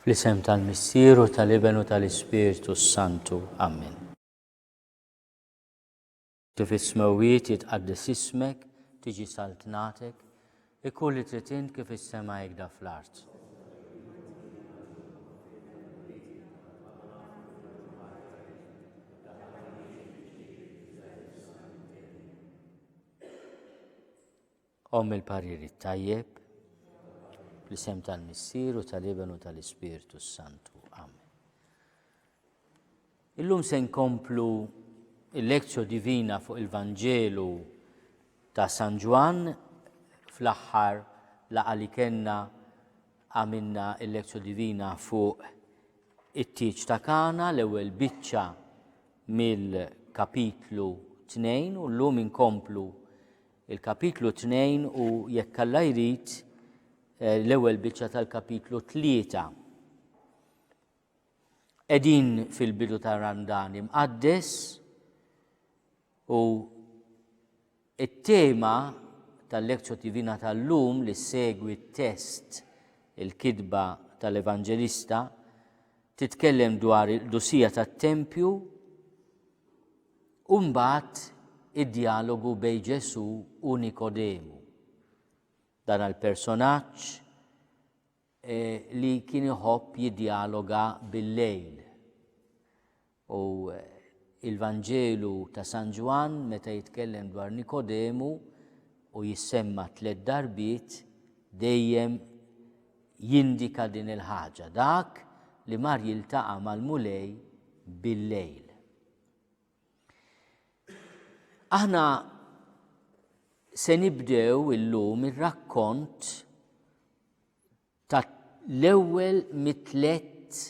Fl-isem tal-Missier u tal-Iben u tal-Ispirtu s-Santu. Amen. Kif is-smewwiet jitqaddes ismek, tiġi saltnatek, ikun li trid int kif is-sema hekk fl-art. Omm il-parir it-tajjeb, l-isem tal-Missier u tal-Iben u tal-Ispirtu s-Santu. Amen. Illum se nkomplu il-lezzjo divina fuq il-Vanġelu ta' San Ġwann fl-aħħar laqa li kenna għamilna il-lezzju divina fuq it-tieġ ta' kana l-ewwel biċċa mill-kapitlu 2 u llum inkomplu Il-Kapitlu 2 u jekk Alla jrid eh, l-ewwel biċċa tal-Kapitlu 3. Qegħdin fil-bidu ta' Randan imqaddes u it-tema tal-Lekzjo Divina tal-lum li segwi t-test il-kidba tal-Evanġelista titkellem dwar il-dusija tat-tempju U mbagħad id-djalogu bejn Ġesù u Nikodemu. Dan il-personaġġ e, li kien iħobb jiddjaloga bil-lejl. U eh, il-Vanġelu ta' San Ġwann meta jitkellem dwar Nikodemu u jissemma tliet darbiet dejjem jindika din il-ħaġa dak li mar jiltaqa' mal-mulej bil-lejl. Aħna se nibdew illum ir-rakkont ta' l-ewwel mitlet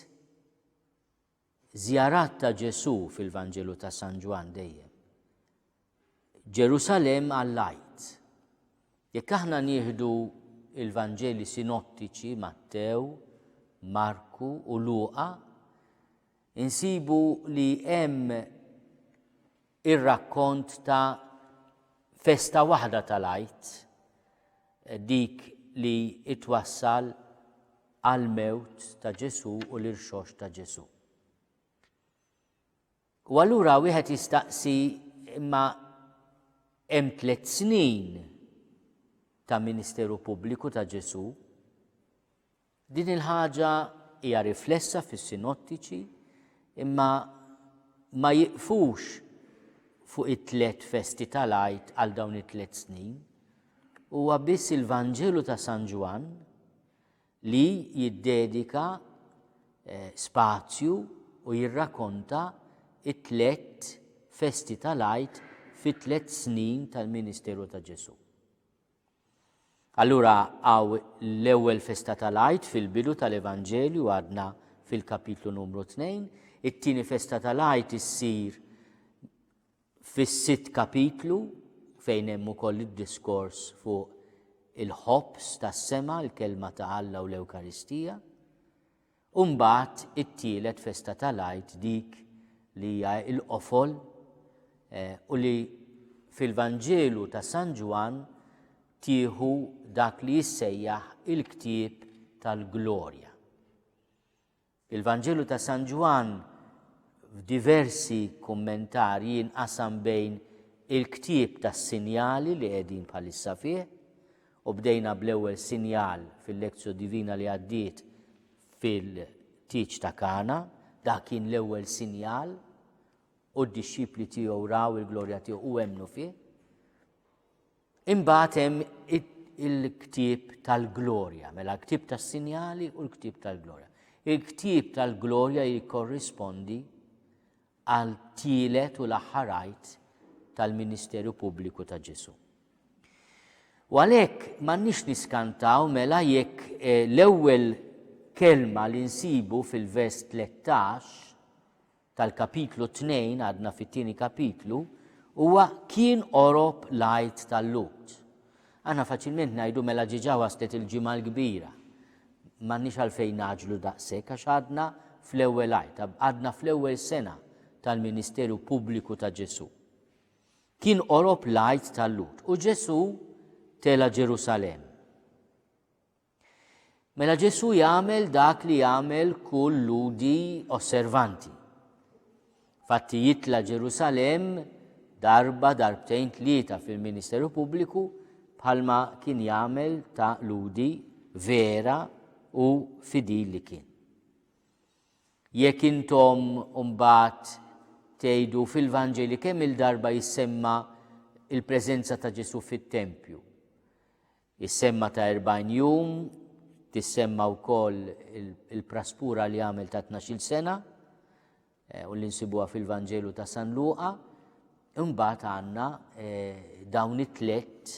żjarat ta' Ġesu fil-Vanġelu ta' San Ġwan dejjem. Ġerusalemm għall-Għid. Jekk aħna nieħdu l-Vanġeli sinottiċi Mattew, Marku u Luqa, insibu li hemm ir-rakkont ta' festa waħda tal-Għid, dik li twassal għall-mewt ta' Ġesù u l-irxoxt ta' Ġesù. U allura wieħed jistaqsi imma hemm tliet snin ta' ministeru pubbliku ta' Ġesù. Din il-ħaġa hija riflessa fis-sinottiċi imma ma jiqfux fuq it-tliet festi tal-għid għal dawn it-tliet snin. Huwa biss il-Vanġelu ta' San Ġwann li jiddedika spazju u jirrakonta t-tlett festi tal-Għid fit-tlett snin tal-ministeru ta' Ġesù. Allura hawn l-ewwel festa tal-Għid fil-bidu tal-Evanġelju għadna fil-kapitlu numru 2, it-tieni festa tal-Għid issir Fis-sitt kapitlu, fejn hemm ukoll id-diskors fuq il-ħobż tas-sema, il-Kelma ta' Alla u l-Ewkaristija, u mbagħad it-tielet festa tal-Għid dik li hija l-qofol eh, u li fil-Vanġelu ta' San Ġwann tieħu dak li jissejjaħ il-ktieb tal-glorja. Il-Vanġelu ta' San Ġwann f'diversi kummentarji jinqasam bejn il-ktieb tas-sinjali li qegħdin bħalissa fih, u bdejna bl-ewwel sinjal fil-Lectio Divina li għaddiet fil-tieġ ta' Kana, dak kien l-ewwel sinjal, u d-dixxipli tiegħu raw il-glorja tiegħu u emmnu fih. Imbagħad hemm il-ktieb tal-glorja, mela l-ktieb tas-sinjali u l-ktieb tal-glorja. Il-ktieb tal-glorja jikkorrispondi għal tielet u l-aħħarajt tal-Ministeru Pubbliku ta' Ġesu. U għalhekk m'għandniex niskantaw mela jekk eh, l-ewwel kelma li nsibu fil-vers 13 tal-Kapitlu Tnejn, għadna fit-tieni kapitlu, huwa kien qorob l-Għid tal-Lhud. Aħna faċilment ngħidu mela ġiġa waslet il-Ġimgħa l-Kbira. M'għandniex għalfejn naġlu daqshekk għax għadna fl-ewwel Għid, għadna fl-ewwel sena tal-ministeru pubbliku ta' Ġesù. Kien qorob l-Għid tal-Lhud u Ġesù tela' Ġerusalemm. Mela Ġesù jagħmel dak li jagħmel kull Lhudi osservanti. Fatti jitla' Ġerusalemm darba darbtejn tlieta fil-ministeru pubbliku bħalma kien jagħmel ta' Lhudi vera u fidil li kien. Jekk intom mbagħad tgħidu fil-Vanġeli kemm il-darba jissemma il-preżenza ta' Ġesù fit-tempju. Is-semma ta' erbgħin jum tissemma wkoll il-praspura li għamel ta' tnax-il sena eh, u li nsibuha fil-Vanġelu ta' San Luqa. Imbagħad għandna eh, dawn it-tlett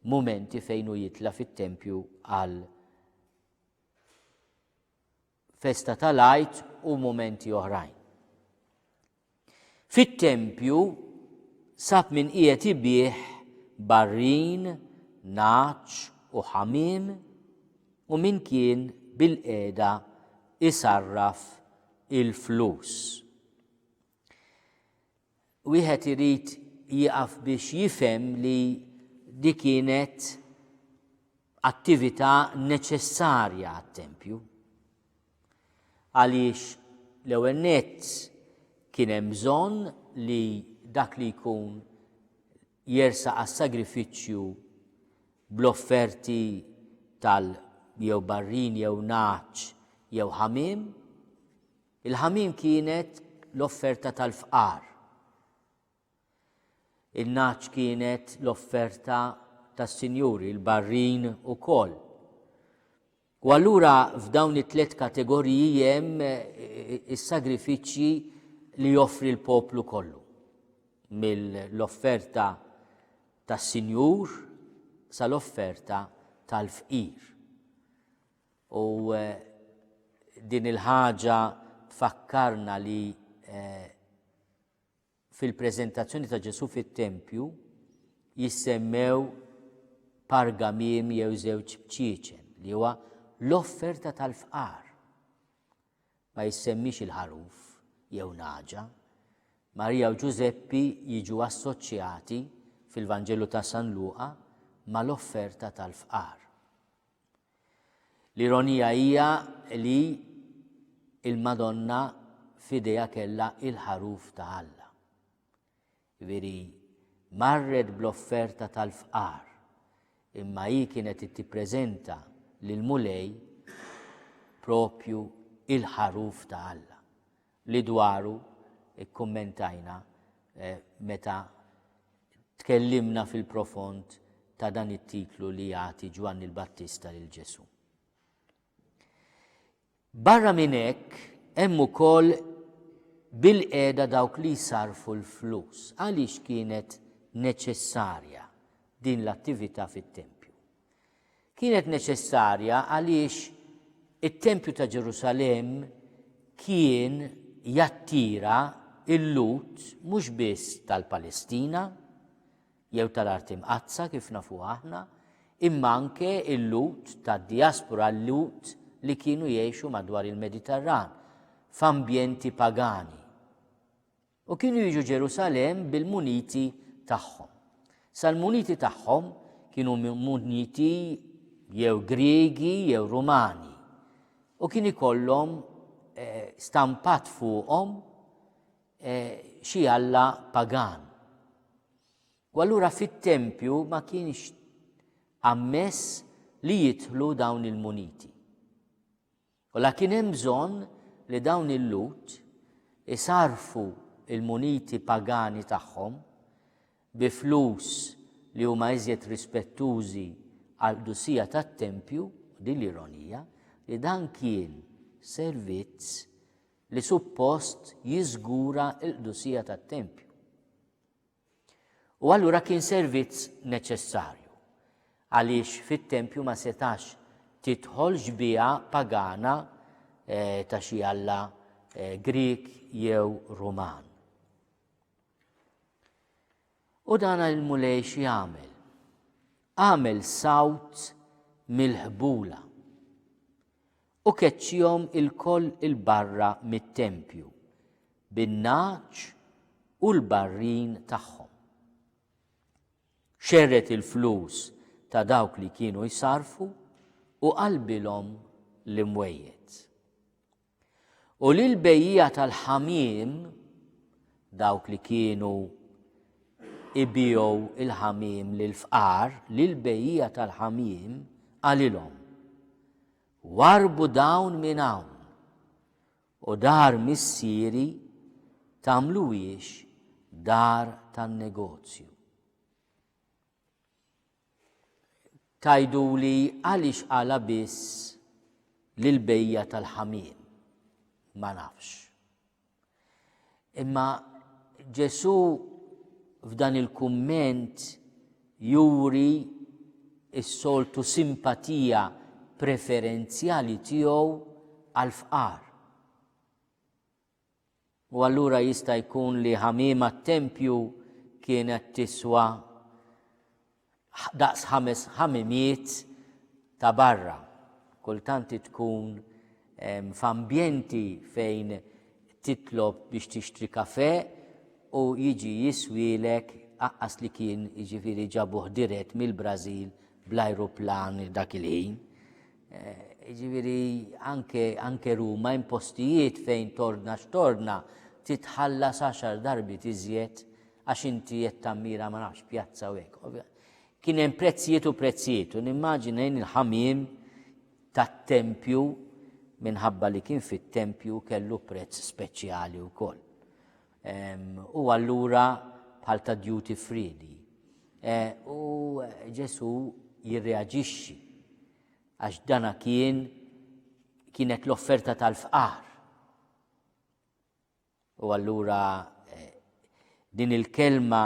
mumenti fejn hu jitla fit-tempju għal festa tal-Għid u mumenti oħrajn. Fit-tempju sab min qiegħed ibih barrin, naċ u ħamiem u min kien bil-qiegħda isarraf il-flus. Wieħed irid jieqaf biex jifhem li di kienet attività neċessarja għat-tempju. Għaliex l-ewwel nett kien hemm bżonn li dak li jkun jersa għas-sagrifiċċju bl-offerti tal jew barrin jew naċ jew ħamim Il-ħamiem kienet l-offerta tal-fqar. In-nagħaġ kienet l-offerta tas-sinjuri, il-barrin ukoll. U allura f'dawn it-tliet kategoriji hemm is-sagrifiċċji li joffri l-poplu kollu. Mill-offerta tas-sinjur sal-offerta tal-fqir. U din il-ħaġa tfakkarna li fil-preżentazzjoni ta' Ġesu fit-tempju jissemmew pargamim jew żewġ bċieċen li huwa l-offerta tal-fqar. Ma jissemmix il-ħaruf jew naġa. Marija u Ġużeppi jiġu assoċjati fil-Vanġelu ta' San Luqa mal-offerta tal-fqar. L-ironija hija li il-Madonna f'idejha kellha il-ħaruf ta' Alla. Veri marret bl-offerta tal-fqar, imma hi kienet tippreżenta lil Mulej propju il-ħaruf ta' Alla. li dwaru kkummentajna meta tkellimna fil-profond ta' dan it-titlu li jagħti Ġwanni l-Battista lil Ġesù. Barra minn hekk hemm ukoll bil-qiegħda dawk li jsarfu l-flus għaliex kienet neċessarja din l-attività fit-tempju. Kienet neċessarja għaliex it-Tempju ta' Ġerusalemm kien jattira il-Lhud mhux biss tal-Palestina jew tal-Art Imqaddsa kif nafu aħna, imma anke il-Lhud tad-diaspora l-Lhud li kienu jgħixu madwar il-Mediterran f'ambjenti pagani. U kienu jiġu Ġerusalemm bil-muniti tagħhom. Sal-muniti tagħhom kienu muniti jew Griegi jew Rumani. U kien ikollhom eh, stampat fuqhom eh, xi alla pagan. U allura fit-tempju ma kienx ammess li jidħlu dawn il-muniti. U la kien hemm bżonn li dawn il-Lhud isarrfu l-muniti pagani tagħhom bi flus li huma iżjed rispettużi għall-qdusija tat-tempju, u din l-ironija, li dan kien servizz li suppost jiżgura l-qdusija tat-tempju. U allura kien servizz neċessarju, għaliex fit-tempju ma setax tidħol xbieha pagana ta' xi alla Grieg jew Ruman. U dan il-mulej xi għamel? Għamel sawt mill-ħbula. U keċċihom ilkoll 'il barra mit-tempju, bin-nagħaġ u l-barrin tagħhom. Xerred il-flus ta' dawk li kienu jsarrfu u qalbilhom l-imwejjed. U lil bejjija tal-ħamiem dawk li kienu ibijow il-ħamim lil fqar lil bejjija tal-ħamim għalilhom. Warrbu dawn minn hawn, u dar missieri tagħmluhiex dar tan-negozju. Tgħiduli għaliex qalha biss lill-bejja tal-ħamiem. Ma nafx. Imma Ġesù f'dan il-kumment juri s-soltu simpatija preferenzjali tiegħu għal fqar. U allura jista' jkun li ħamiema t-tempju kienet tiswa daqs ħames ħamimiet ta' barra. Kultant tkun f'ambjenti fejn titlob biex tixtri kafè u jiġi jiswielek aqqas li kien jiġifieri ġabuh dirett mill-Brażil bl-ajruplan dak il-ħin. Jiġifieri anke anke Ruma hemm postijiet fejn torna x'torna titħallas għaxar darbiet iżjed għax inti qed tammira ma nafx pjazza u hekk. Kien hemm prezzijiet u prezzijiet u nimmaġina jien il-ħamiem tat-tempju minħabba li kien fit-tempju kellu prezz speċjali wkoll. U allura bħal ta' duty free li. E, u Ġesu jirreaġixxi għax dana kien kienet l-offerta tal-fqar. U allura din il-kelma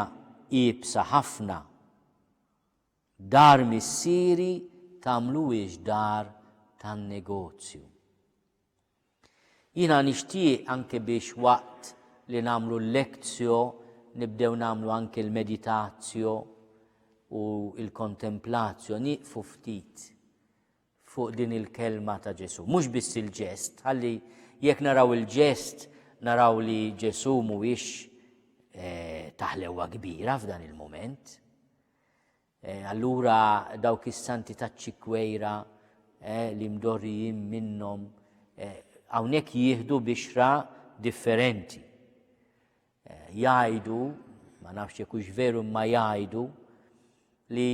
iebsa ħafna, dar missieri tagħmluhiex dar tan-negozju. Jiena nixtieq anke biex waqt li nagħmlu l-lektio nibdew nagħmlu anke l-meditazio u l-kontemplatio, nieqfu ftit fuq din il-kelma ta' Ġesù. Mhux biss il-ġest, ħalli jekk naraw il-ġest naraw li Ġesù mhuwiex eh, taħlewa kbira f'dan il-moment. Eh, allura dawk is-santi taċ-ċikwejra eh, li mdorrijin minnhom hawnhekk jieħdu bixra differenti. Jgħidu, ma nafx jekk hux veru imma jgħidu li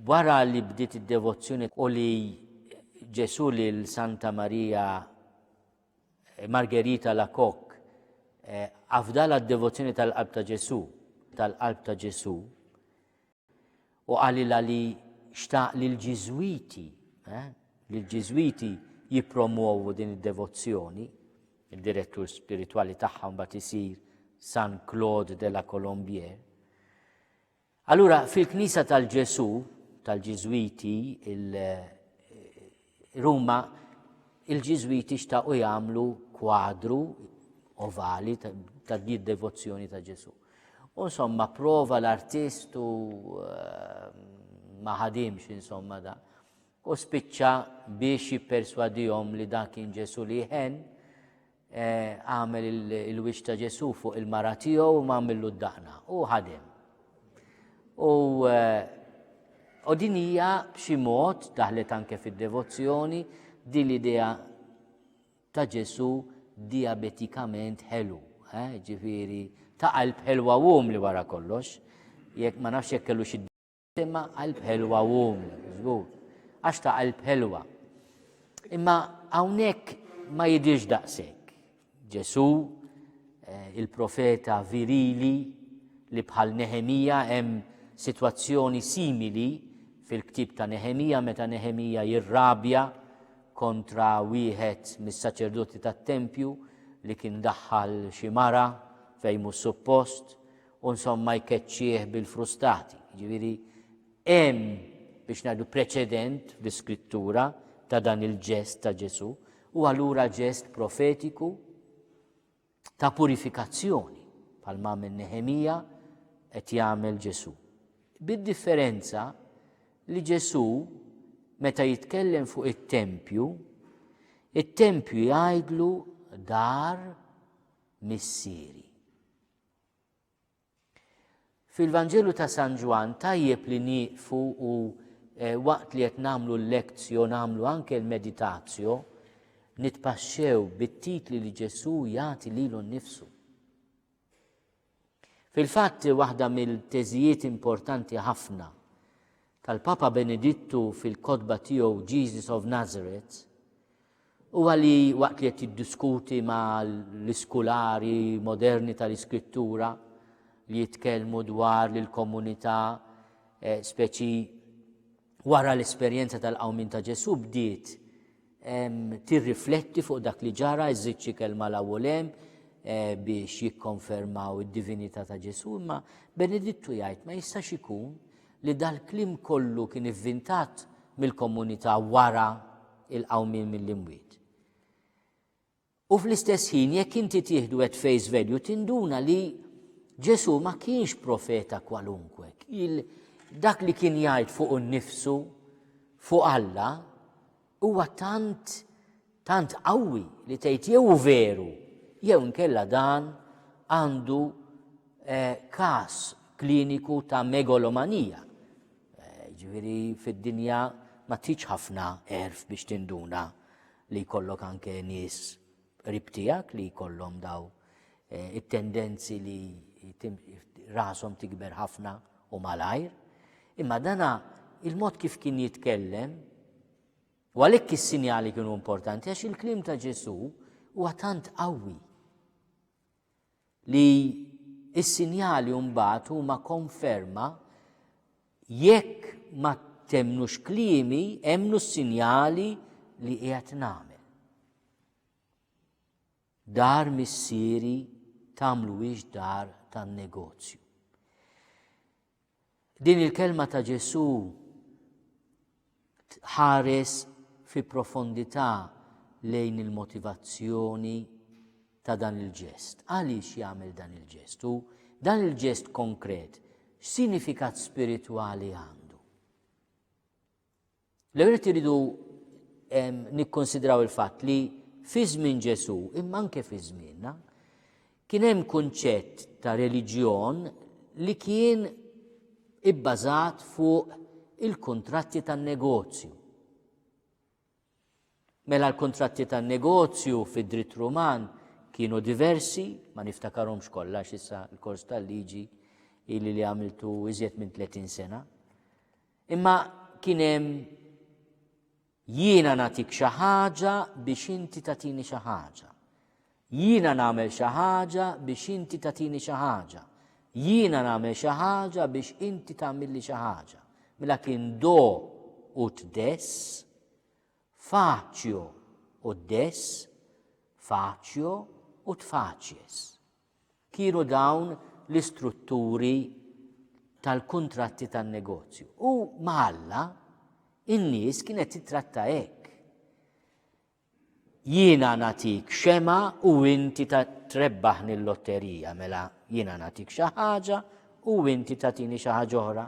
wara li bdiet id-devozzjoni u li Ġesù lil Santa Marija Margherita Lakok afdala d-devozzjoni tal-qalb ta' Ġesù, tal-qalb ta' Ġesù, u qalilha li xtaq li l-Ġiżwiti, eh, li l-Ġiżwiti jippromwovu din id-devozzjoni, id-direttur spiritwali tagħha mbagħad isir San Claude de la Colombière. Allura fil-Knisja tal-Ġesù tal-Ġiżwiti Ruma, il-Ġiżwiti xtaqu jagħmlu kwadru ovali ta' din devozzjoni ta' Ġesu. U insomma, prova l-artist u ehm, ma ħadimx insomma da. U spiċċa biex jipperswadihom li dan kien Ġesu li jħen, għamel il-wiċċ ta' Ġesù fuq il-mara tiegħu u m'għamillu d-daqna u ħadem. U u din hija b'xi mod daħlet anke fid-devozzjoni din l-idea ta' Ġesù diabetikament ħelu, eh, ġifieri ta' qalb ħelwa wum li wara kollox, jekk ma nafx jekk kellu xi Imma qalb ħelwa u żgur, għax ta' qalb ħelwa. Imma hawnhekk ma jidhirx daqshekk. Ġesù, eh, il-profeta virili li bħal Neħemija hemm sitwazzjoni simili fil-ktib ta' Neħemija meta Neħemija jirrabja kontra wieħed mis-saċerdoti tat-tempju li kien daħħal xi mara fejn mhux suppost u nsomma jkeċċih bil-frustati. Jiġifieri hemm biex ngħidu preċedent fl-Iskrittura ta' dan il-ġest ta' Ġesù u allura ġest profetiku ta' purifikazzjoni bħal ma' minn Nehemija qed jagħmel Ġesù. Bid-differenza li Ġesù meta jitkellem fuq it-tempju, it-tempju jgħidlu dar missieri. Fil-Vanġelu ta' San Ġwann tajjeb li nieqfu u eh, waqt li qed nagħmlu l-lezzjo nagħmlu anke l-meditazjo nitpaxxew bit-titli li Ġesù jagħti lilu nnifsu. Fil-fatt waħda mill-teżijiet importanti ħafna tal-Papa Benedittu fil-kotba tiegħu Jesus of Nazareth Huwa li waqt li qed jiddiskuti ma' l-iskulari moderni ta' l-Iskrittura li jitkellmu dwar li l-komunità, speċi wara l-esperjenza tal-qawmien ta' Ġesù, bdiet tirrifletti fuq dak li ġara, iżżid xi kelma 'l hawn u 'l hemm biex jikkonfermaw id-divinità ta' Ġesù, imma Benedittu jgħid ma jistax ikun li dal-kliem kollu kien ivvintat mill-komunità wara il-qawmien mill-imwiet. U fl-istess ħin jekk inti tieħdu at face value tinduna li Ġesu ma kienx profeta kwalunkwe. Dak li kien jgħid fuq nnifsu, fuq Alla, Huwa tant, tant qawwi li tgħid jew hu veru, jew inkella dan għandu eh, każ kliniku ta' megalomanija. Eh, ġifieri fid-dinja ma tiġ ħafna erf biex tinduna li jkollok anke nies qrib tiegħek li jkollhom daw eh, it-tendenzi li rasom tikber ħafna u malajr. Imma dana il-mod kif kien jitkellem, u għalhekk is-sinjali kienu importanti, għax il-klim ta' Ġesu huwa tant qawwi. li s-sinjali mbagħad huma konferma jekk ma temmnux kliemi, emmnu s-sinjali li qiegħed nagħmel. Dar missieri tagħmluhiex dar tan-negozju. Din il-kelma ta' Ġesù tħares fi profondità lejn il-motivazzjoni ta' dan il-ġest. Għaliex jagħmel dan il-ġest? U dan il-ġest konkret, x'sinifikat spiritwali għandu? L-ewwel iridu nikkonsidraw il-fatt li fi żmien Ġesù, imma anke fi żmienna, kien hemm kunċett ta' reliġjon li kien ibbażat fuq il-kuntratti tan-negozju. Mela l-kuntratti tan-negozju fid-dritt Ruman kienu diversi, ma niftakarhomx kollha x'issa l-kors tal-liġi ili li għamiltu iżjed minn 30 sena. Imma kien hemm jiena nagħtik xi ħaġa biex inti tagħtini xi ħaġa. Jiena nagħmel xi ħaġa biex inti tagħtini xi ħaġa. Jiena nagħmel xi ħaġa biex inti tagħmilli xi ħaġa. Mela kien do u tdess, faċjo u dess, faċjo u tfaċjes. Kienu dawn l-istrutturi tal-kuntratti tan-negozju. U maħalla, in-nies kienet titratta hekk. Jiena nagħtik xemgħa u inti trebbahni l-lotterija, mela jiena nagħtik xi ħaġa u inti tagħtini xi ħaġa oħra.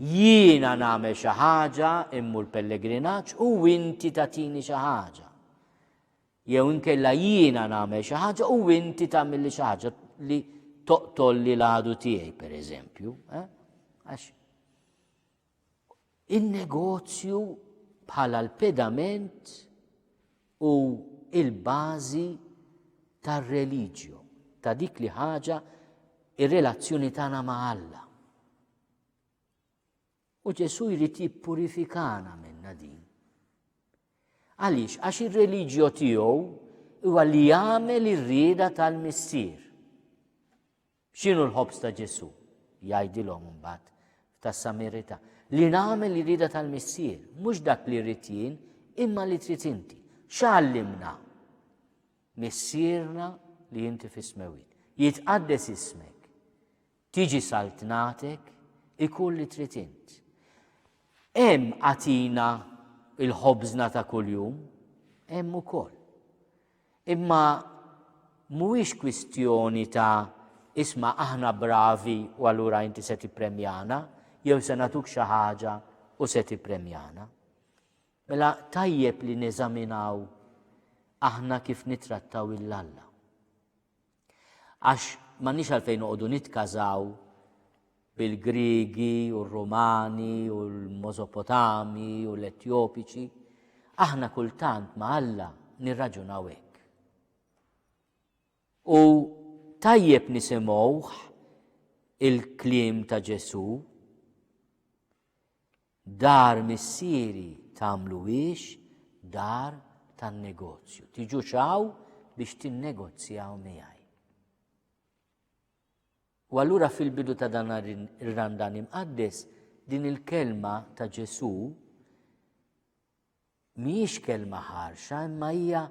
Jiena nagħmel xi ħaġa, immur pellegrinaġġ u inti tagħtini xi ħaġa. Jew inkella jiena nagħmel xi ħaġa u inti tagħmilli xi ħaġa li toqtolli l-għadu tiegħi, pereżempju. Eh? Għax In-negozju bħala l-pedament u l-bażi tar-religio, ta' dik li ħaġa ir-relazzjoni tagħna ma' Alla. U Ġesu jrid jippurifikana minna din. Għaliex, għax ir-reliġjo tiegħu huwa li jagħmel ir-rieda tal-missier. X'inhu l-ħobż ta' Ġesù? jgħidilhom imbagħad tas-Samirita. Li nagħmel irida tal-Missier, mhux dak li rrid jien, imma li trid inti. X'għallimna? Missierna li inti fis-smewit. Jitqaddes ismek. Tiġi saltnatek ikun li trid int. Hemm għatina il-ħobżna ta' kuljum, hemm ukoll. Imma mhuwiex kwistjoni ta' isma' aħna bravi u allura inti se tippremjana jew se nagħtuk xi ħaġa u se tippremjana. Mela tajjeb li neżaminaw aħna kif nittrattaw il Alla. Għax m'għandniex għalfejn noqogħdu nitkażaw bil-Griegi u r-Rumani u l-Mosopotami u l-Etjopiċi, aħna kultant ma' Alla nirraġunaw hekk. U tajjeb nisimgħuh il-kliem ta' Ġesu' Dar missieri tagħmluhiex dar tan-negozju. Tiġux hawn biex tinnegozjaw miegħi. U allura fil-bidu ta' dan ir-randan imqaddes din il-kelma ta' Ġesu mhijiex kelma ħarxa imma hija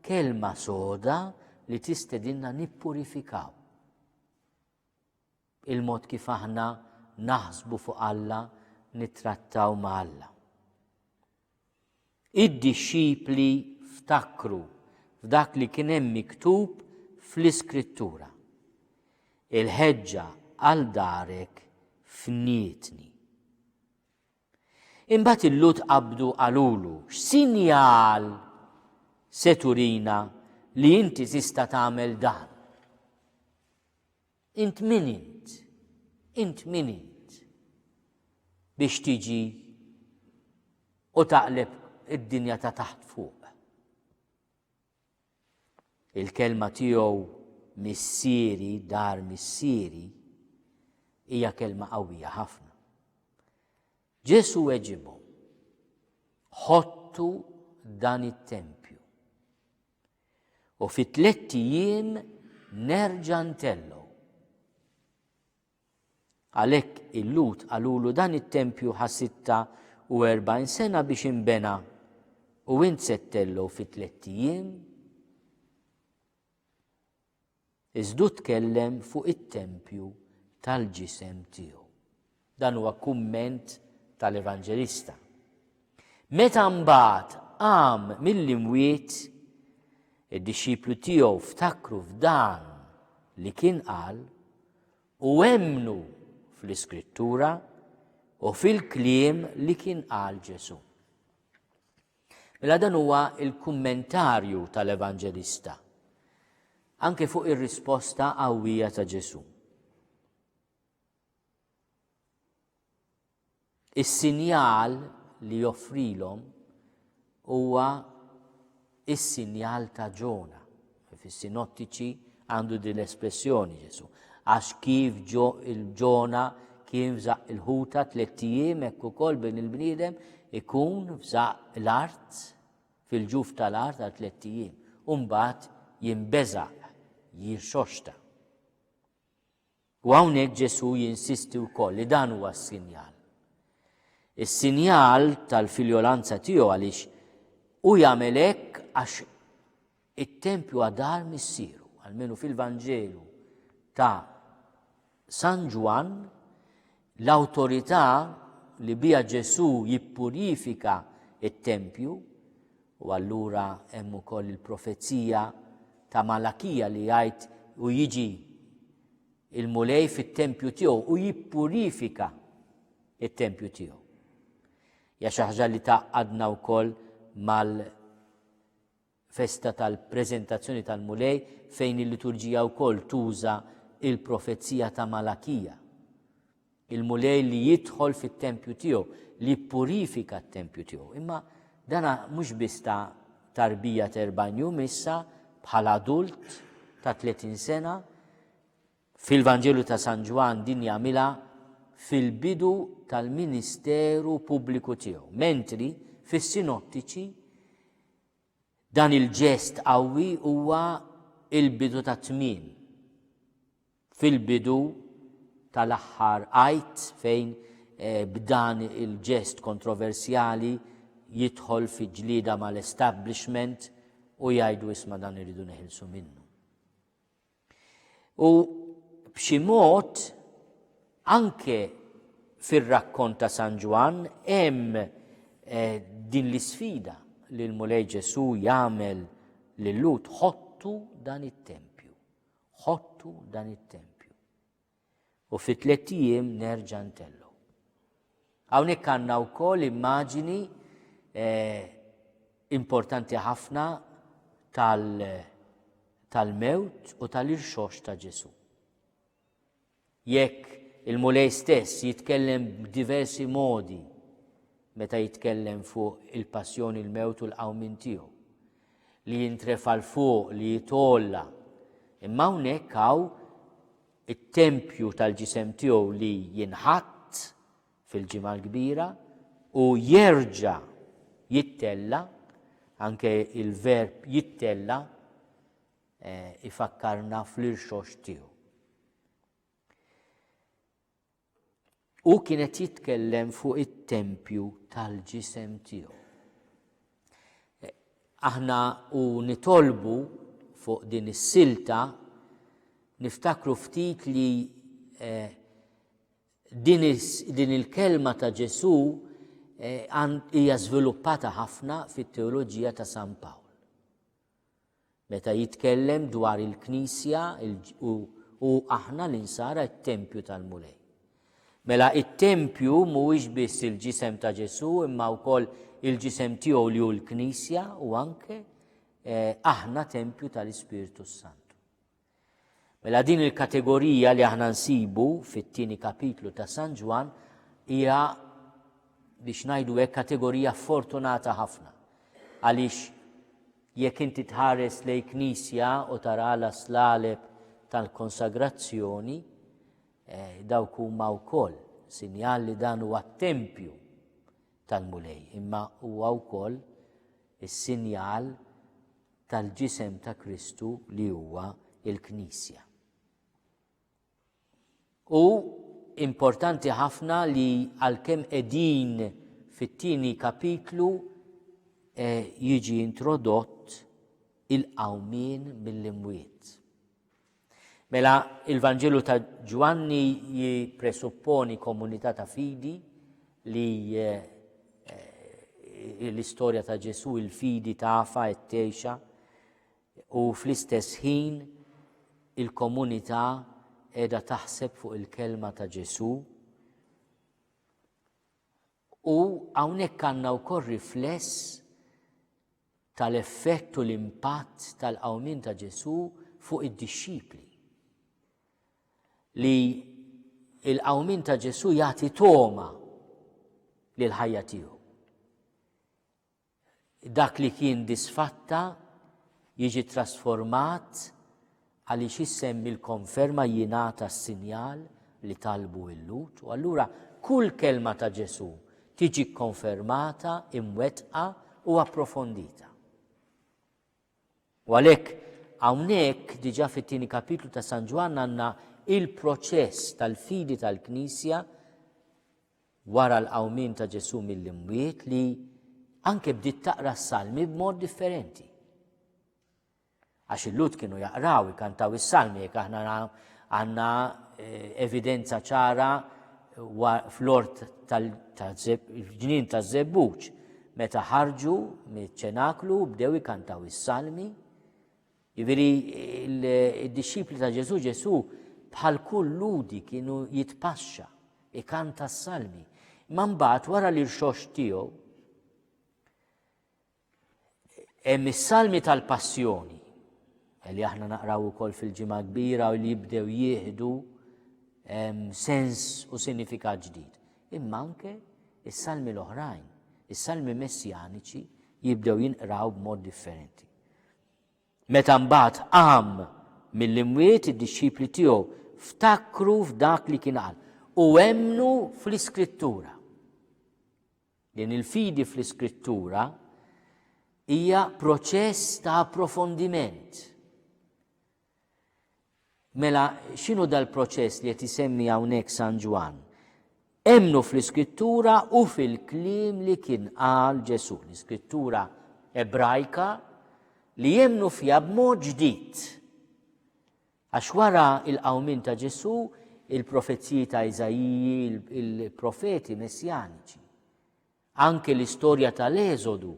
kelma soda li tistedinna nippurifikaw. Il-mod kif aħna naħsbu fuq Alla nittrattaw ma' Alla. Id-dixxipli ftakru f'dak li kien hemm miktub fl-Iskrittura. Il-ħeġġa għal darek fnietni. Imbagħad il-lut qabdu qalulu, x'sinjal se turina li inti tista' tagħmel dan? Int min int? Int min int? Biex tiġi u taqleb id-dinja ta' taħt fuq. Il-kelma tiegħu missieri, dar missieri, hija kelma qawwija ħafna. Ġesu weġibhom, ħottu dan it-tempju. U fi tlett ijiem nerġa' ntellgħu. Għalhekk il-Lut qalulu dan it-tempju ħa sitta u erbgħin sena biex inbena u int se ttellgħu fi tlett ijiem. Iżdu tkellem fuq it-tempju tal-ġisem tiegħu. Dan huwa kumment tal-Evanġelista. Meta mbagħad qam mill-imwiet, id-dixxiplu tiegħu ftakru f'dan li kien qal u emmnu fl-iskrittura u fil-kliem li kien qal Ġesu. Mela dan huwa l-kummentarju tal-Evanġelista anke fuq ir-risposta qawwija ta' Ġesù. Is-sinjal li joffrilhom huwa is-sinjal ta' Ġona. Fis-Sinottiċi għandu din l-espressjoni Ġesù. Għax kif il-ġona kien f'żaq il-ħuta tliet ijiem hekk ukoll bin il-bniedem ikun f'żaq l-art fil-ġuf tal-art għal tliet ijiem. Umbagħad jinbeżaq, jirxoxta. U hawnhekk Ġesù jinsisti wkoll li dan huwa s-sinjal. Is-sinjal tal-filjolanza tiegħu għaliex hu jagħmel hekk għax it-tempju huwa dar missieru, għalmenu fil-Vanġelu ta' San Ġwann L-awtorità li biha Ġesù jippurifika t-tempju, u allura hemm ukoll il-profezija ta' Malakija li jgħid u jiġi il-Mulej fit-tempju tiegħu u jippurifika it-tempju tiegħu. Ja xi ħaġa li taqadna wkoll mal festa tal-Preżentazzjoni tal-Mulej fejn il-liturġija wkoll tuża l-profezija ta' Malakija. Il-Mulej li jidħol fit-tempju tiegħu, li jippurifika t-tempju tiegħu. Imma dana mhux biss ta' tarbija terbanju missa bħala adult ta' 30 sena, Fil-Vanġelu ta' San Ġwann din jagħmilha fil-bidu tal-ministeru pubbliku tiegħu, mentri fis-Sinottiċi dan il-ġest qawwi huwa l-bidu tat-tmiem, fil-bidu tal-aħħar Għid fejn b'dan il-ġest kontroversjali jidħol fi ġlieda mal-establishment u jgħidu isma' dan irridu neħilsu minnu. U b'xi mod anke fir-rakkont ta' San Ġwann hemm eh, din l-isfida li l-Mulej Ġesu jagħmel lil Lut ħottu dan it-tempju. Ħottu dan it-tempju. U fi tliet ijiem nerġa' ntellgħu. Hawnhekk għandna wkoll immaġini eh, importanti ħafna tal-mewt u tal-irxox ta' Ġesu. Jekk il-Mulej stess jitkellem b'diversi modi meta jitkellem fuq il-passjoni l-mewt u l-qawmin tiegħu li jintrefa l-fuq li jitolla imma hawnhekk hawn it-tempju tal-ġisem tiegħu li jinħatt fil-Ġimgħa l-Kbira u jerġa' jittella, anke il-verb jittella eh, ifakkarna fl-irxox tiegħu. Hu kien qed jitkellem fuq it-tempju tal-ġisem tiegħu. Aħna u nitolbu fuq din is-silta niftakru ftit li eh, din il-kelma ta' Ġesu eh, hija żviluppata ħafna fit-teoloġija ta' San Pawl. Meta jitkellem dwar il-Knisja u aħna l-insara t-tempju tal-Mulej. Mela it-tempju mhuwiex biss il-ġisem ta' Ġesù imma wkoll il-ġisem tiegħu li hu l-Knisja u anke eh, aħna tempju tal-Ispirtu Santu. Mela din il-kategorija li aħna nsibu fit-tieni kapitlu ta' San Ġwann hija biex ngħidu hekk kategorija fortunata ħafna. Għaliex jekk inti tħares lej knisja u tara għala slaleb tal-konsagrazzjoni, eh, dawk huma wkoll sinjal li dan huwa tempju tal-Mulej, imma huwa wkoll is-sinjal tal-ġisem ta' Kristu li huwa il-Knisja. U importanti ħafna li għalkemm qegħdin fit-tieni kapitlu eh, jiġi introdott il-qawmien mill-imwiet. Mela, il-Vanġelu ta' Ġwanni jippresupponi komunità ta' fidi li l-istorja ta' Ġesu il-fidi tafa qed tgħixha u fl-istess ħin il-komunità qiegħda taħseb fuq il-kelma ta' Ġesu. U hawnhekk għandna wkoll rifless tal-effett u l-impatt tal-qawmien ta' Ġesù fuq id-dixxipli. Li l-qawmien ta' Ġesù jagħti togħma lil ħajja tiegħu. Dak li kien disfatta jiġi trasformat Għaliex isem il-konferma jingħata s-sinjal li talbu il-Lhud, u allura kull kelma ta' Ġesù tiġi kkonfermata, imwettqa u approfondita. U għalhekk hawnhekk diġà fit-tieni kapitlu ta' San Ġwann għandna il-proċess tal-fidi tal-Knisja wara l-qawmien ta' Ġesù mill-imwiet li anke bdiet taqra s-salmi b'mod differenti. Għax il-Lhud kienu jaqraw, ikantaw is-Salmi, jekk aħna għandna evidenza ċara fl-ort tal-ġnien taż-Żebbuġ, meta ħarġu miċ-ċenaklu bdew ikantaw is-Salmi. Jiġifieri d-dixxipli ta' Ġesu Ġesu bħal kull ludi kienu jitpaxxa, ikanta s-salmi. Imma mbagħad wara li rxox tiegħu, Hemm is-salmi tal-passjoni li aħna naqraw ukoll fil-ġimgħa kbira u li jibdew jieħdu sens u sinifikat ġdid. Imma anke is-salmi l-oħrajn, is-salmi messjaniċi jibdew jinqraw b'mod differenti. Meta mbagħad qam mill-imwiet id-dixxipli tiegħu ftakru f'dak li kien qal u emnu fl-iskrittura. Din il-fidi fl-Iskrittura hija proċess ta' approfondiment. Mela, x'inhu dal-proċess li qed isemmi hawnhekk San Ġwann? Emmnu fl-Iskrittura u fil-kliem li kien qal Ġesù, l-Iskrittura Ebrajka li jemmnu fiha b'mod ġdid. Għax wara l-qawmien ta' Ġesù, il-profeziji ta' Iżaiji, il-profeti messjaniċi, anke l-istorja tal-Eżodu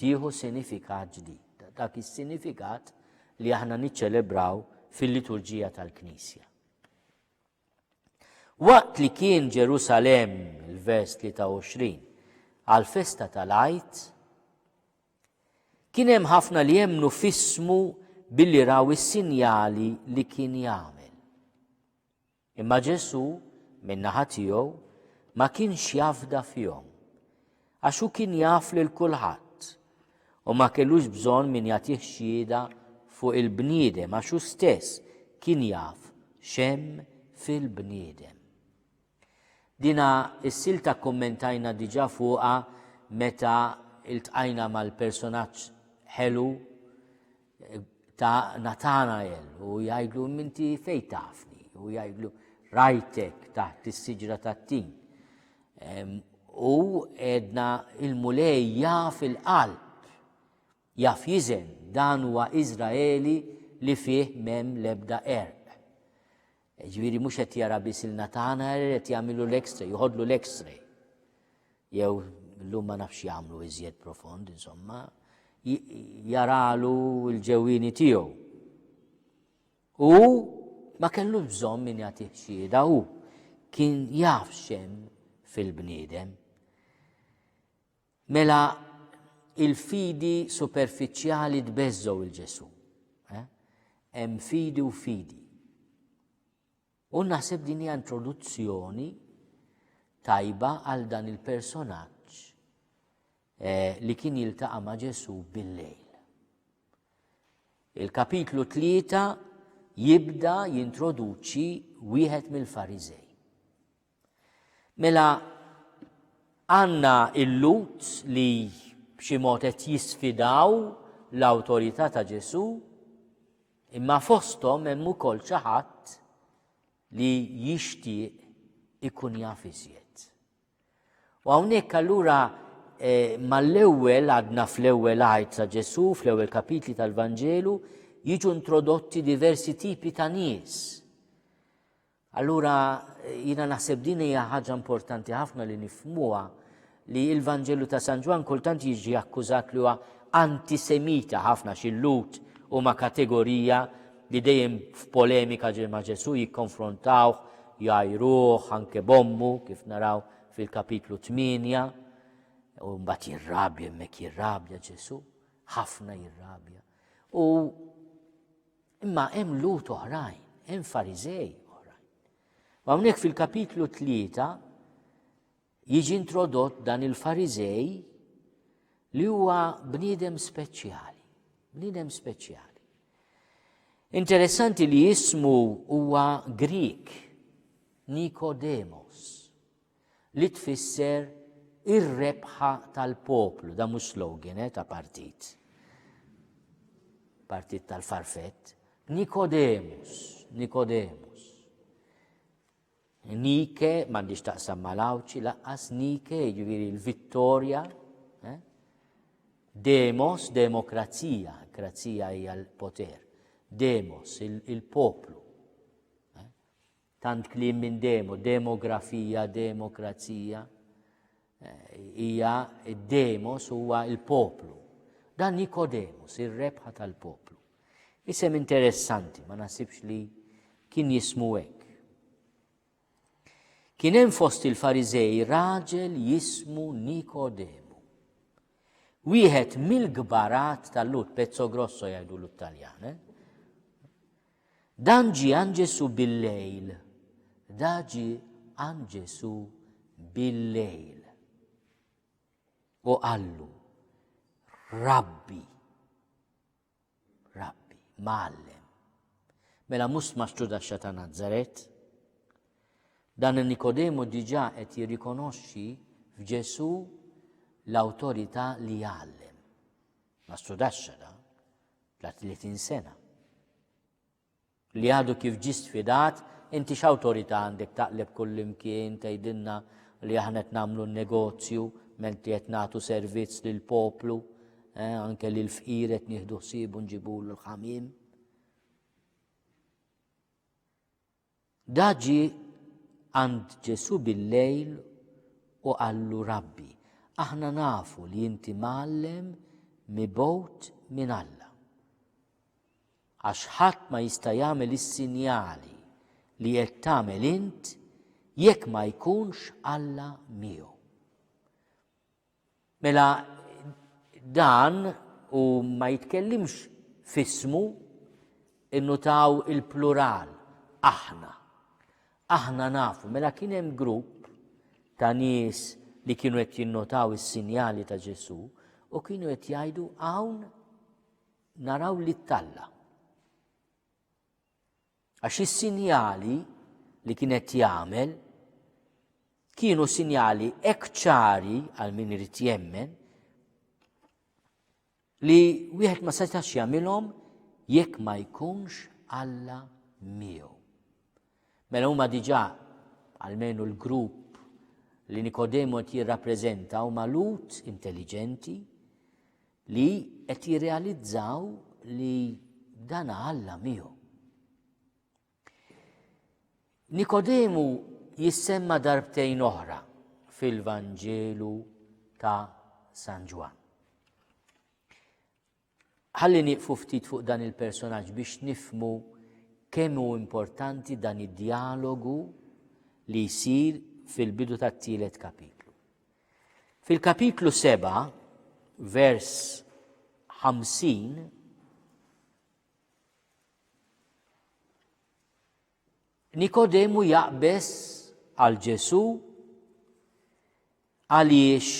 tieħu sinifikat ġdid, dak is-sinifikat li aħna niċċelebraw fil-liturġija tal-Knisja. Waqt li kien Ġerusalemm, il-vers 23, għall-festa tal-Għid, kien hemm ħafna li jemmnu f'ismu billi raw is-sinjali li kien jagħmel. Imma Ġesu, min-naħa tiegħu, ma kienx jafda fihom. Għax hu kien jaf lil kulħadd, u ma kellux bżonn min jagħtih xhieda fuq il-bniedem għax hu stess kien jaf x'hemm fil-bniedem. Dina s-silta kkummentajna diġà fuqha meta iltqajna mal-personaġġ ħelu ta' Natanael u jgħidlu minti fej tafni u jgħidlu rajtek taħt is-siġra tat-tin. U edna il-mulej jaf il-qalb, jaf jizen dan huwa Izraeli li fih mem lebda erq. Jiġifieri mhux qed jara biss il-natana, qed jagħmilu l-x-ray, jħodlu l-x-ray. Jew llum ma nafx jagħmlu iżjed profond, insomma, jaralu l-ġewwini tiegħu. U ma kellu bżonn min jagħtih xieda u kien jaf xem fil-bniedem. Mela il-fidi superfiċjali tbeżżgħu il Ġesù. Eh? Hemm fidi u fidi. U naħseb din hija introduzzjoni tajba għal dan il-personaġġ eh, li kien jiltaqa' ma' Ġesù bil-lejl. Il-kapitlu 3 jibda jintroduċi wieħed mill-Farizej. Mela għandna il-Lut li b'xi mod qed jisfidaw l-awtorità ta' Ġesù, imma fosthom hemm ukoll xi ħadd li jixtieq ikun jaf iżjed. U hawnhekk allura eh, mal-ewwel għadna fl-ewwel għajt ta' Ġesù, fl-ewwel kapitli tal-Vanġelu, jiġu introdotti diversi tipi ta' nies. Allura jiena naħseb din hija ħaġa importanti ħafna li nifhmuha li l-Vanġelu ta' San Ġwann kultant jiġi akkużat li huwa antisemita ħafna xi Lhud huma kategorija li dejjem f'polemika ġej ma' Ġesù jikkonfrontawh, jgħajruh anke b'ommu kif naraw fil-kapitlu 8 u mbagħad jirrabja hemmhekk jirrabja Ġesù, ħafna jirrabja. U Imma hemm Lut oħrajn, hemm Fariżej oħrajn. U hawnhekk fil-kapitlu tlieta jiġi introdott dan il-Fariżej li huwa bniedem speċjali, bniedem speċjali. Interessanti li jismu huwa Grik, Nikodemos. li tfisser ir-rebħa tal-poplu, dan mhux slogan eh, ta' partit. Partit tal-farfett, Nikodemus, Nikodemus. Nike, mandiġ taqsam mal-awċi, laqqas Nike, ġiviri l-vittoria, eh? demos, demokrazija, krazija hija l-poter, demos, il-poplu. Eh? Tant kliem minn demo, demografija, demokrazija. Eh, hija id-demos huwa il-poplu. Dan Nikodemus, ir-rebħa tal-poplu. Isem interessanti, ma nasibx li kien jismu hekk. Kien hemm fost il-Farizej raġel jismu Nikodemu. Wieħed mill-gbarat tal-lut, pezzo grosso jgħidu l-Taljan, eh? Dan ġie għand Ġesù bil-lejl. Da ġie għand Ġesù bil-lejl. U qallu, Rabbi, Rabbi, mallem. Mela mhux maċċu daxxa ta' Nazaret. Dan Nikodemu diġà qed jirrikonoxxi f'Ġesù l-awtorità li jgħallem. Maċċu daxxa da. la 30 sena. Li għadu kif ġi sfidat, inti x'awtorità għandek taqleb kullimkien tgħidilna li aħna qed nagħmlu negozju menti qed nagħtu servizz lil poplu, eh, anke li l-fqir qed nieħdu ħsiebu nġibulu l-ħamim. Da ġie għand Ġesù bil-lejl u qallu, Rabbi, aħna nafu li inti mgħallem mibgħut minn Alla. Għax ħadd ma jista' jagħmel is-sinjali li qed tagħmel int jekk ma jkunx Alla miegħu. Mela dan u ma jitkellimx f'ismu, innutaw il-plural, aħna. Aħna nafu, mela kien hemm grupp ta' nies li kienu qed jinnotaw is-sinjali ta' Ġesù u kienu qed jgħidu hawn naraw li talla. Għax is-sinjali li kien qed jagħmel kienu sinjali hekk ċari għal min irid jemmen li wieħed ma setax jagħmilhom jekk ma jkunx Alla miegħu. Mela huma diġà għalmenu l-grupp li Nikodemu qed jirrappreżenta huma lut intelliġenti Li qed jirrealizzaw li dan Alla miegħu. Nikodemu jissemma darbtejn oħra fil-Vanġelu ta' San Ġwan. Ħalli nieqfu ftit fuq dan il-personaġġ biex nifmu kemm hu importanti dan id-dialogu li jsir fil-bidu tat-tielet kapitlu. Fil-kapitlu 7, vers 50, Nikodemu jaqbes għal Ġesu għaliex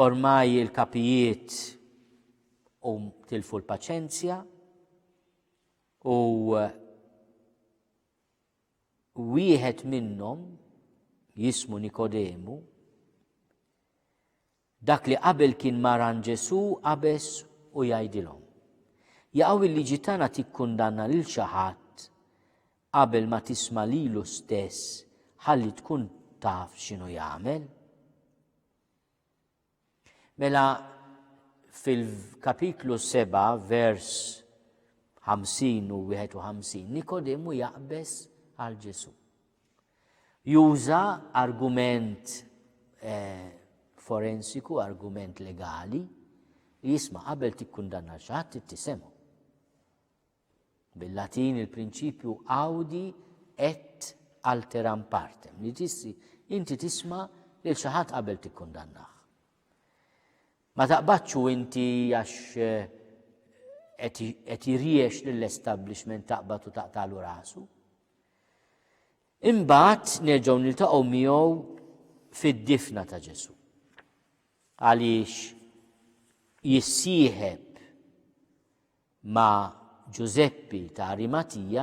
ormaj il-kapijiet u tilfu l-paċenzja u Wieħed minnhom, jismu Nikodemu, dak li qabel kien maran Ġesu qabeż u jgħidilhom. Jaqgħu il-liġi tagħna tikkundanna lil xi ħadd qabel ma tisma' lilu stess ħalli tkun taf x'inhu jagħmel? Mela fil-kapitlu 7 vers 50 u 51 Nikodemu jaqbeż għal Ġesu. Juża argument eh, forensiku, argument legali, jisma qabel tikkundanna xaħat tisemu. Bil-Latin il-prinċipju audi et alteram partem, li tissi inti tisma' lil xi ħadd qabel tikkundannah. Ma taqbadx u inti għax eh, qed jiriex lill-establishment taqbad u taqtalu rasu. Imbagħad nerġgħu niltaqgħu miegħu fid-difna ta' Ġesu. Għaliex jissieħeb ma' Ġużeppi ta' Arimatija